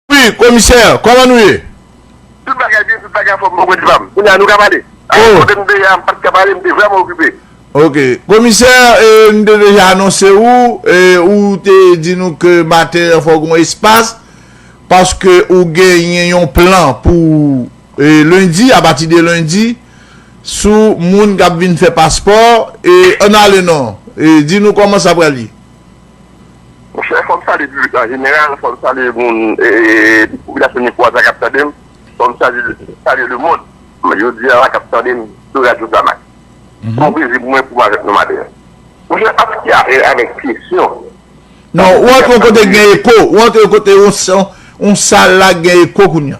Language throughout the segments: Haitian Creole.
Wi komisè kòman nou ye. Tout bagay byen tout bagay anfòm bon bandi pam kounya nou ka pale avan kote nou te ye a m pat ka pale m te vrèman okipe. Ok komisè nou te deja anonse ou e ou te di nou ke maten an fòk gon espas paske ou genyen yon plan pou lendi apati de lendi sou moun kap vin fè paspò e ann ale non di nou kòman sa pral ye. Monchè fòm salye piblik la anjeneral, fòm salye moun popilasyon Mikoas la kap tandem, fòm salye le mond jodia la kap tandem sou radyo Zamax. Son plezi pou mwen pou mwen avèk nou maten an. Monchè aske apre avèk kesyon. Non, ou antre yon kote ki gen eko, ou antre yon kote yon sal la ki gen eko kounya.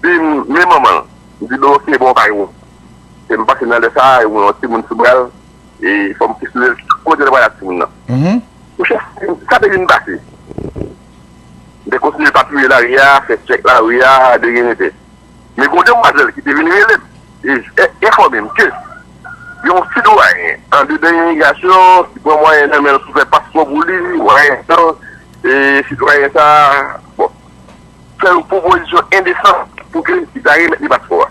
Di m, men manman l. M di, bon oke, bon w pa gen pwoblèm. Epi m pase nan lè sa a, e m wè yon timoun sou bra l, e fò m kesyonnen l, kote l pral ak timoun nan? Mon chè, sa te vin pase. M te kontinye papouye lari a, fè tchèk lari a, de gen de te. Men gon demwazèl ki te vin rele m, e enfòme m ke gen yon ti dwayen andedan imigrasyon ki pran mwayen nan men l pou fè paspò pou li, mwayen an, e si dwayen sa a, bon. fè yon pwopozisyon endesan pou ke li ta remèt li paspò a.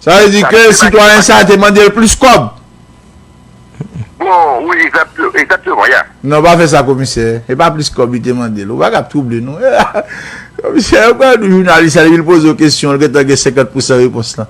Sa vle di ke sitwayen sa a te mande l plis kòb? Bon, wi, egzakteman, ya. Non, pa fè sa komisè. Se pa plis kòb li te mande l. Ou pa ka ap twouble nou. Komisè, yo pral di jounalis la depi l poze w kesyon, l gentan gen senkant pousan repons lan.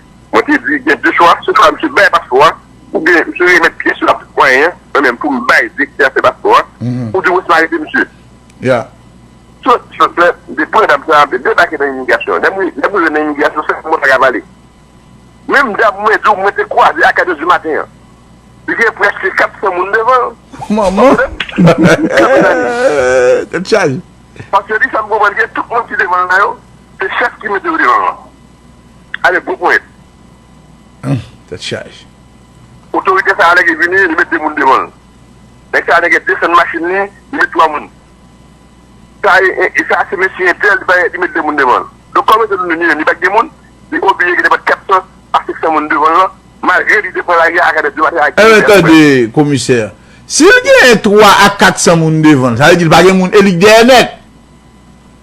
Mwen te di gen 2 chwa, se swa misye bay paspò a oubyen misye remèt pyès yo ak mwayen an, mwen menm pou m bay direktè afè paspò a, ou di wè si m arete misye. Sot ki sot fè, m te pran dam sa a, m te debake nan imigrasyon an. Lè m rive nan imigrasyon, se kòman w ta ka pale. Menm dam mwen di w mwen te kwaze a 4 è di maten an, li gen prèske 400 moun devan l. Manman! Tèt chaje! Paske li fè m konprann ke tout moun ki devan l la yo, se chèf ki mete yo devan l lan. Ale gwo ponyèt. Humm tèt chaj. Otorite sa alege vini li met 2 moun devan l. Nèg sa alege desann machin li, li met 3 moun. Sa e e sa se mesye entèl li met 2 moun devan l. Donk kòm se nou menm li pa k gen moun, li oblije gen nenpòt 400 a 500 moun devan l lan malgre li te pran lari a ak avè 2 machin ak 2 moun. Enben tande komisè, si l gen 3 a 400 moun devan l sa vle di l pa gen moun e li k dèyè nèt.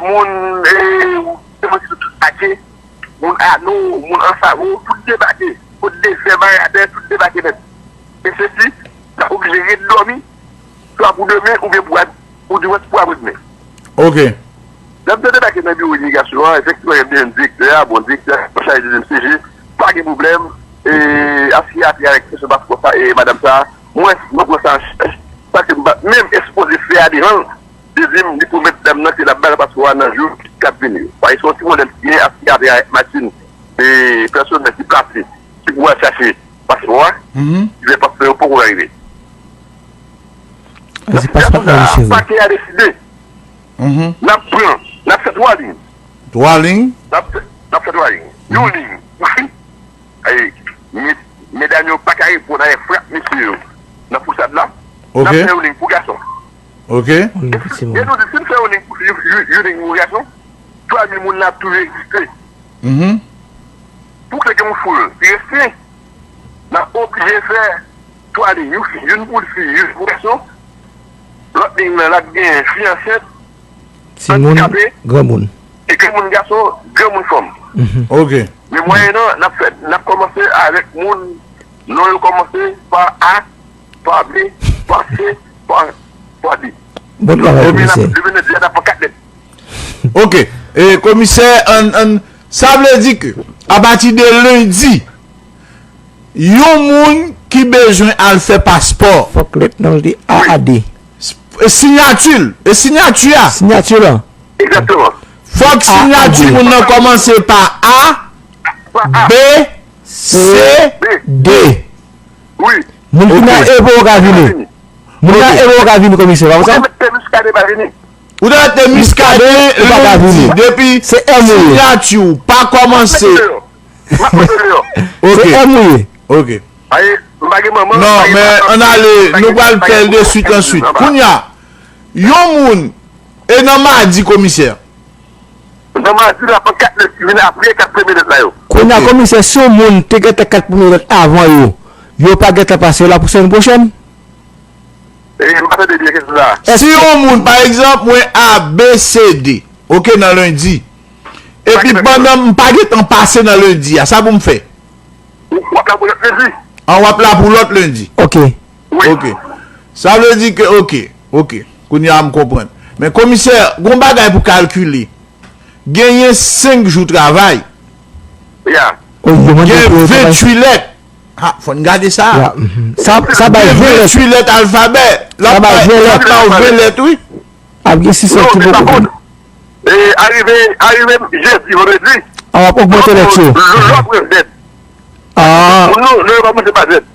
moun Semantico tout debake, moun Ano, moun Ansaro, tout debake, kot Desè, Baradè, tout debake nèt. E se si, n ap oblije ret dòmi, swa pou demen oubyen pou ap, pou dimanch pou apre demen. Ok. Lè m te debake nan biwo imigrasyon an, efektivman yo te jwenn direktè a, bon direktè a an chaje dezyèm CG, pa gen pwoblèm, e ap siye apre avèk kesyon paspò sa e madam sa, mwens mwen pran sa an chaj, sa ke m pa t menm espoze fè a devan l. Li di m li pwomèt dam nan ke l ap ba l paspò a nan jou k ap vini yo. Sa se yon ti modèl ki genyen ak siyati ak machin pèsonèl ki plase ki pou al chache paspò a. Ki fè paspò yo poko rive. Nan sitiyasyon sa a, pakè a deside n ap pran, n ap fè 3 liy. 3 liy? N ap fè 3 liy. Yon liy pou fi, medam yo pa ka reponn avèk frap mesye yo nan fousad la. N ap fè yon liy pou gason. Ok. Moun yo piti moun. Denou di sim fè you ning mouri ak nou pami moun nan ap toujou egziste. Uhmm. Pou kle gen yon foul ki resi nan oblije fè 3 ning you fi youn poul fi youn pou gason lòt ning nan lap gen fi ansent andikape granmoun e granmoun gason granmoun fanm. Ok. Men mwayennan nap fè nap kòmanse avèk moun non yo kòmanse pa a. Pale, pase, pwade. Bon travay komisè. Demen nap di a nap pran 4 lèt. Ok komisè an sa vle di ke apati de lendi yon moun ki bezwen al fè paspò. Fòk lèt nan li a a de. E sinyati l. E sinyati a. Sinyati lan. Ekzatman. Fòk sinyati moun nan kòmanse pa a, b, c, d. Moun ki nan evo yo ka vini. Moun nan evo yo ka vini komisè, pa konsa? Ou te mèt te Muscadin pa vini. Ou te mèt te Muscadin lundi depi sinyati ou pa kòmanse. Map mete ou deyò. Se èm ou ye. Ok. Paske m pa gen manman. Non men an ale nou pral fè l de suit an suit. Kounya yon moun e nan madi komisè. Nan madi la pran 4 nèg ki vin apre 4 premye nèg la yo. Kounye a komisè si yon moun te gentan 4 premye nèg avan yo, yo pa gentan pase yo la pou semèn pwochèn? M pa tande byen kesyon sa. Si yon moun pa egzanp mwen ABCD ok nan lendi epi pandan m pa gentan pase nan lendi a sa pou m fè? Wap la pou lòt lendi. An wap la pou lòt lendi. Ok. Ok sa vle di ke ok ok kounye a m konprann men komisè gon bagay pou kalkile genyen 5 jou travay gen 28 lèt ha fò n gade sa gen 28 lèt alfabè l ap ba w 20 lèt wi ap gen 6 lèt ki pou konprann arive jèdi vandredi a wap ogmante lèt yo lòt lèt a pou nou lè yo pa manje pa jèt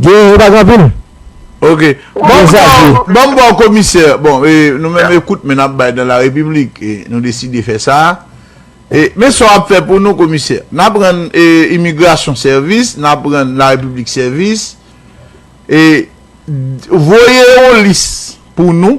Gen yo pa gen anpil. Ok. Banm baw komisè. Bon e nou menm e kout men nap bay nan la repiblik. E nou deside fè sa. E men sa wap fè pou nou komisè. Nap rann e imigrasyon sèvis. Nap rann la repiblik sèvis. E voye yon lis pou nou.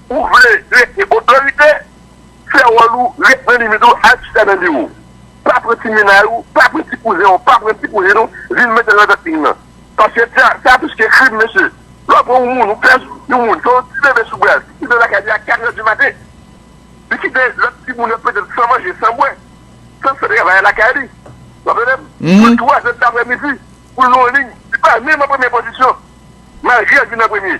Ou vle rete otorite, fè wòl ou, ret nan limit ou, al chita nan biwo w. Pa pran ti mennaj ou, pa pran ti kouzen w, pa pran ti kouzin ou vin met l nan tèt krim nan. Paske sa a plis ke krim mesye. Lè w pran yon moun, ou pèse yon moun, gen yon ti bebe sou bra l, ki kite l lakay li a katrè di maten. Li kite lòt timoun yo petèt san manje, san bwè, san fè travay a lakay li. W ap tande m? Sou twazè daprè midi, pou l nan yon liy, li pa menm an premye pozisyon, malgre l vin an premye.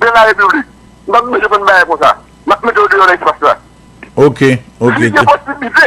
de la République. M pa bezwen jwenn bagay konsa. M ap mete yo deyò nan espas la. Ok, ok. Li gen posiblite.